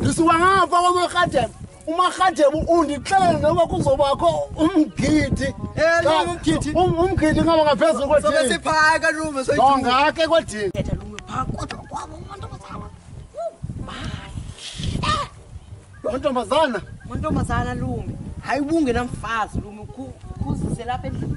ndisuka ngapha kwamarhadebe umarhadebe undixelele noba kuzobakho umgidi Umgidi? Um- umgidi ngaba ngaphezulu kwedini siphaya kalume ongake kwedini mantombazana mantombazana lume hayi ubungenamfazi lume ukhuzise lapha endlini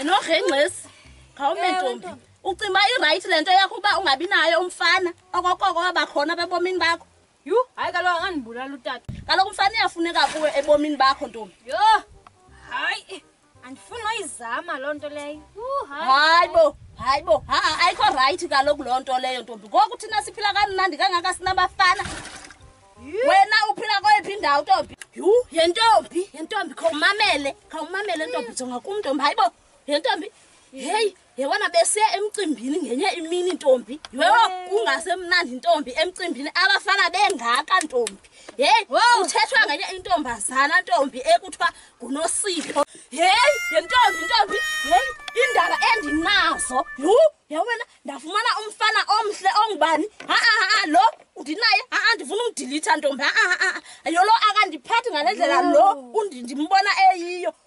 enogengxesi khawume ntombi ucinga uba irayithi le nto yakho uba ungabi nayo umfana okokoko wabakhona bebomini bakho yhu hayi kaloku angandibulala utata kaloku mfana iyafuneka kuwe ebomini bakho ntombi yho hayi andifuni noyizama loo nto leyo hayi bo hayi bo haa ayikho rayithi kaloku loo nto leyo ntombi ngoku thina siphila kamnandi kangaka sinabafana wena uphila kweyiphi indawo ntombi yhu yentombi yentombi khawumamele khawumamele ntombi jonga kumntombi hayi bo yentombi heyi yebona besiya emcimbini ngenye imini ntombi yho kungasemnandi ntombi emcimbini abafana bengaka ntombi heyi uthethwa ngenye intombazana ntombi ekuthiwa ngunosipho heyi yentombi ntombi heyi indaba endinazo yhu yawena ndafumana umfana omhle ongubani haa lo ndinaye haa ndifuna umdilitha ntombi haa yolo akandiphathi ngale ndlela lo ndimbona eyiyo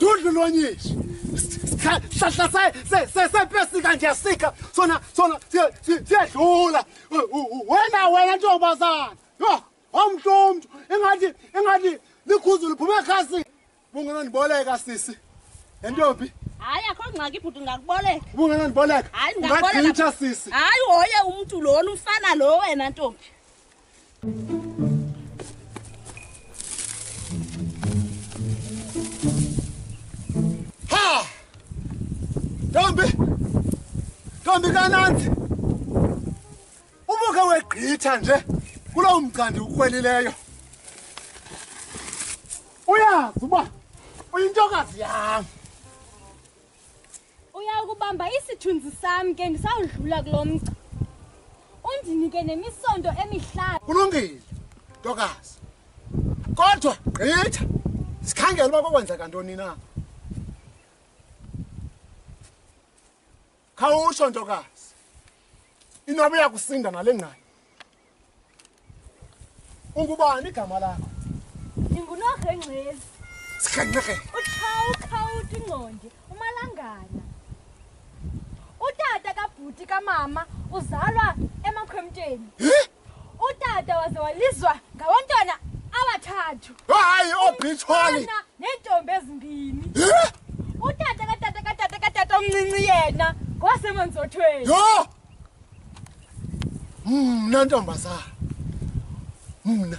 dudlu lonyishi hlahla sepesika nje sika sona sona siyadlula wena wena ntombazana omhle umntu ingathi ingathi likhuzu liphume ekhasini bungenondiboleka sisi entombi hayi akho ngxaki bhuti ndingakuboleka ubungenondiboleka hayi ndingakuboleka sisi hayi hoye umntu lona umfana lo wena ntombi Tombi! Tombi kananzi! Ubuke wegqitha nje kulo mgcandi ukhwelileyo. Uyazi uba uyintokazi yam. Uya ukubamba isithunzi sam ke ndisawudlula kulo mgca. Undinike nemisondo emihlanu. Kulungile ntokazi. Kodwa gqitha sikhangela uba kokwenzeka ntoni na. khawutsho ntokazi inoba uyakusinda nale ngane ungubani igama lakho ndingunorhengcezi sikhenxekele utshawukhawuthi ingqondi umalangana utata kabhuti kamama uzalwa emakhwemteni Huh? utata waze walizwa ngabantwana abathathu hayi oobitshwali oh, neentombi ezimbini utata katata katata katata omncinci yena ngowasemanzothweni yho mna ntombazana mna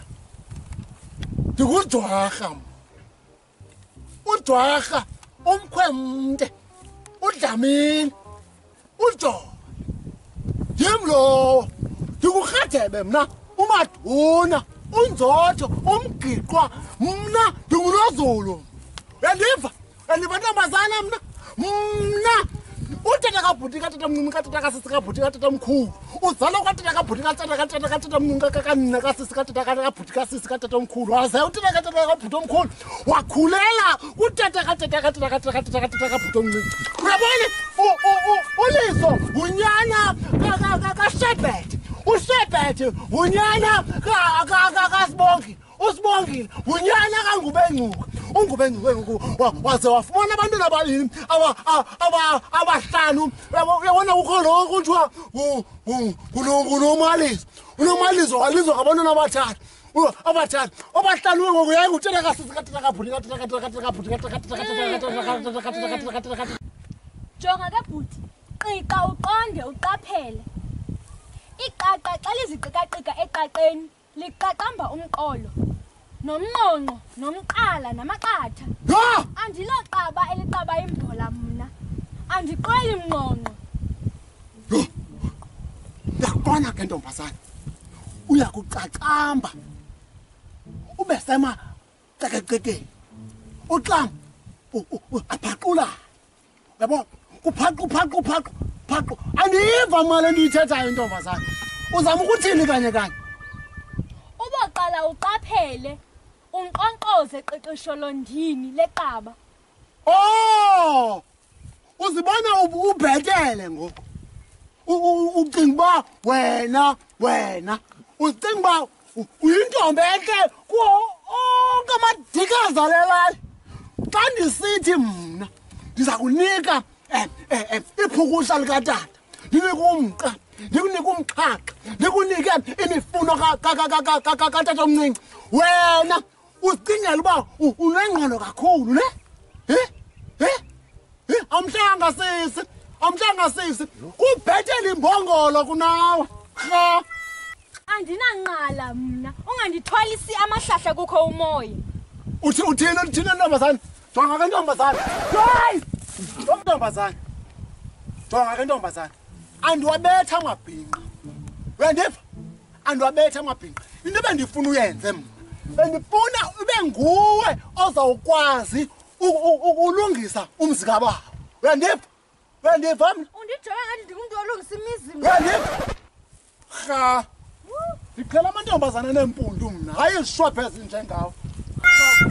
ndikudwarha mna udwarha umkhwemde udlamini ujolo yim lowo ndikurhadebe mna umaduna unzotho umgiqwa mna ndingulozulu uyandiva andibantombazana mna mna utata kabhuti katata mncinci katata kasisi kabhuti katata mkhulu uzalwa kwatata kabhuti katata katata katata mncinci kakanina kasisi katata kabhuti kasisi katata omkhulu waze utata katata kabhuti omkhulu wakhulela utata katata katata katata katata katata kabhuti omncinci uyabona uliso ngunyana kashebhethe ushebhethe ngunyana kasibongi usibongile ngunyana kangubengcuka ungubengcuka ngoku waze wafumana abantwana ababini abahlanu uyabona kukho lo kuthiwa ngunomalizo unomalizo walizwa ngabantwana abathathu abathathu obahlanu we ngoku yaye ngutshela kasisikatinakabhuti jonga ke bhuti qiqa uqonde uqaphele iqaqa xa liziqikaqika eqaqeni liqaqamba umqolo nomnqonqo nomqala namaqatha yho andiloqaba eliqaba imbhola mna andiqweli mnqonqo yho ndiyakubona ke ntombazana uya kuqaqamba ube sema cekecekeni uxam aphaqulan yabo uphaqu phaqu phaqu phaqu andiva mali endiyithethayo intombazana uzama ukuthini kanye kanye uboqala uqaphele unqonqoze qiqisho londini leqaba o oh! uzibona ubhetele ngoku ucinga uba wena wena ucinga uba uyintombi entle kuwo onke amadika azalelayo xa ndisithi mna ndiza kunika um eh, um eh, um eh, iphukusha likatata ndinike umqa ndikunike umxhaxha ndikunike imifuno katata omncinci wena uzicingela uba unengqondo kakhulu ne he he he amhlanga sisi amhlanga sisi kubhetele imbongolo kunawe rha andinanqala mna ungandithwalisi amahlahla kukho umoya uthi uthini uthini ntombazane jonga ke ntombazane guys ntombazane jonga ke ntombazane andiwabetha amabhinqa uyandiva andiwabethe amabhinqa into ebendifuna uyenze mna bendifuna ube nguwe ozawukwazi ukulungisa umzi kabawo uyandiva uyandiva mna undijonga ngathi ndingumntu olungisa imizi uyandiva rha ndiqhela amantombazana neempundu mna hayi izishwabhe ezinjengawo